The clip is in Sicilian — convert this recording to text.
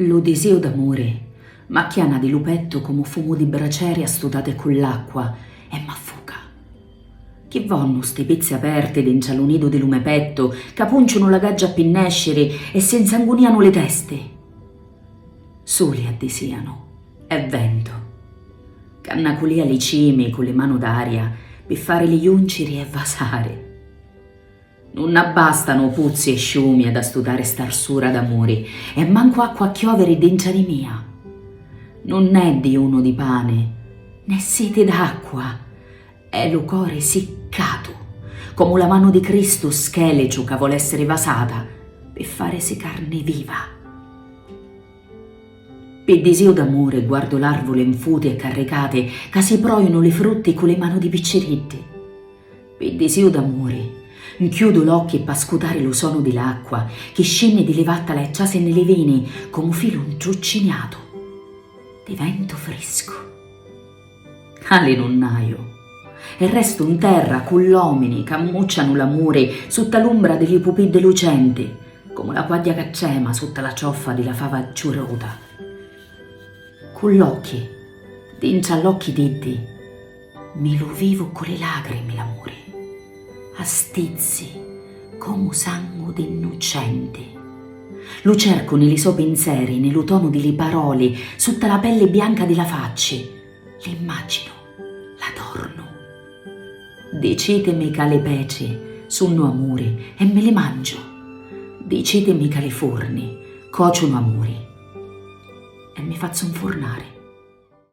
Lu disìu d'amuri m'acchiana di lu pettu comu fumu di braceri astutati cu l'acqua e m'affuca. Chi vonnu sti pizzi aperti dintra lu nidu di lu me pettu ca punciunu la gaggia pi nesciri e si 'nsangunianu li testi? Suli addisianu e ventu ca nnaculia li cimi cu li manu d'aria pi farili junciri e vasari. Nun abbastanu puzzi e sciumi ad astutari st'arsura d'amuri, e mancu acqua a chioviri dintra di mia. Nun è dijunu di pani, nè siti d'acqua, è lu cori siccatu, comu la manu di Cristu scheliciu ca voli essiri vasata pi farisi carni viva. Pi disiu d'amuri guardu l'arvuli nfuti e carricati ca si proinu li frutti cu li manu di picciriddi. Pi disìu d'amuri, 'nchiudu l'occhi p'ascutari lu sonu di l'acqua chi scinni di li vattala e trasi nni li vini comu filu 'ntrucciniatu di ventu friscu. Ali nun haiu e restu 'n terra cu l'omini c'ammuccianu l'amuri sutta l'umbra di li pupiddi lucenti comu la quagghia ca trema sutta la cioffa di la fava ciuruta. Cu l'occhi dintra l'occhi d'iddi. Mi lu vivu ccu li lagrimi l'amuri, a stizzi comu sangu d'innucenti. Lu cercu ni li so pinzeri, ni lu tonu di li paroli, sutta la pelli bianca di la facci, l'immaginu, l'adornu. Dicitimi ca li peci sunnu amuri e mi li mangiu, dicitimi ca li furni cociunu amuri e mi fazzu 'nfurnari.